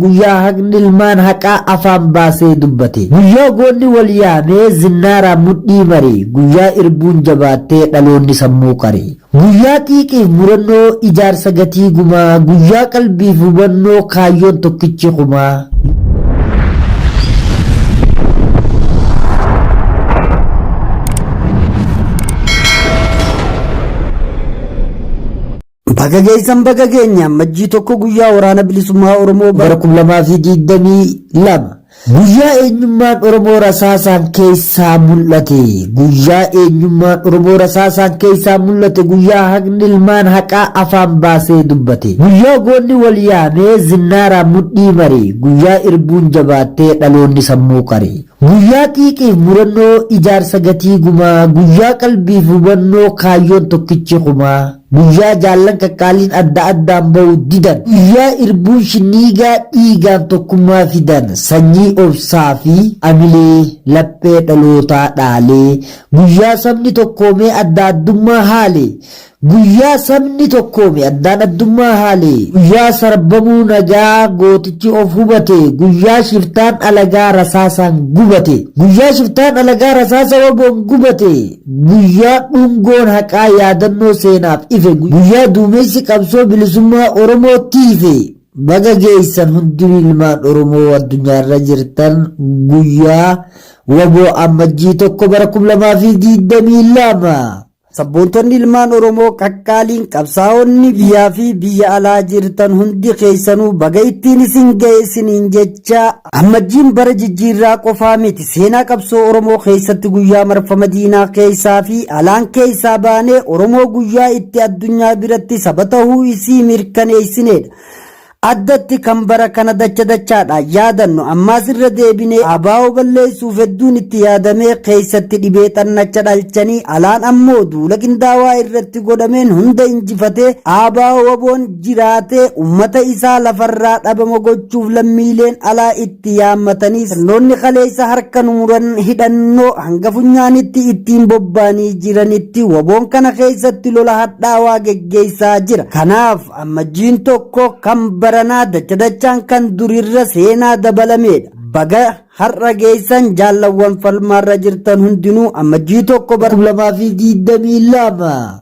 guyyaa haqni ilmaan haqaa afaan baasee dubbate guyyaa goonni wal yaamee zinnaaraan mudhii mare guyyaa irbuun jabaattee dhaloonni sammuu qare guyyaa xiiqiif murannoo ijaarsa gatii gumaa guyyaa qalbiif hubannoo kaayyoon tokkichi kumaa. Baga geessan baga geenye ammajjii tokko guyyaa waraana bilisummaa Oromoo bara 2022 guyyaa eenyummaan Oromoo rasaasaan keessaa mul'ate guyyaa eenyummaan Oromoo rasaasaan keessaa mul'ate guyyaa haqni ilmaan haqaa afaan baasee dubbate guyyaa goonni wal yaamee zinnaaraa mudhii mare guyyaa irbuun jabaattee dhaloonni sammuu qare guyyaa xiiqiif murannoo ijaarsa gatii gumaa guyyaa qalbiif hubannoo kaayyoon tokkichi kumaa Guyyaa jaallan qaqqaaliin adda addaan ba'u didan. Guyyaa irbuun shinniigaa dhiigaan tokkummaa fidan. Sanyii obsaa fi amilee laphee dhalootaa dhaale. Guyyaa sabni tokkoomee adda addummaa haale. Guyyaa sabni tokkoome addaan addummaa haale. Guyyaa sarbamuu nagaa gootichi of hubate. Guyyaa shiftaan alagaa rasaasaan gubate. Guyyaa shiftaan alagaa rasaasa waboon gubate. Guyyaa dhungoon haqaa yaadannoo seenaaf ife guyyaa duumessi qabsoo bilisummaa Oromootti ife baga geessan hundi ilmaan Oromoo addunyaarra jirtan guyyaa wbo Ammajjii 1 bara 2022. Sabboontonni ilmaan Oromoo qaqqaaliin qabsaa'onni biyyaa fi biyya alaa jirtan hundi keessanuu baga ittiin isin ga'e isiniin jecha Ammajjiin bara jijjiirraa qofaa miti seenaa qabsoo Oromoo keessatti guyyaa marfama diinaa keessaa fi alaan keessaa baanee Oromoo guyyaa itti addunyaa biratti saba tahuu isii mirkaneessineedha. Addatti kan bara kana dacha dachaadha yaadannu ammaas irra deebinee abaa'oo balleessuuf hedduun itti yaadamee keessatti dhibee xannacha dhalchanii alaan ammoo duula qindaawaa irratti godhameen hunda injifatee abaa'oo waboon jiraatee ummata isaa lafarraa dhabama gochuuf lammiileen alaa itti yaammatanii sirnoonni kaleessa harka nu muran hidhannoo hanga funyaanitti ittiin bobbaanii jiranitti waboon kana keessatti lola hadhaawaa geggeessaa jira. Kanaaf ammajjiin tokko kan baranaa dacha dachaan kan durirra seenaa dabalameedha. Baga har'a geessan jaallawwan falmaarra jirtan hundinuu ammajjii tokko bara 2022.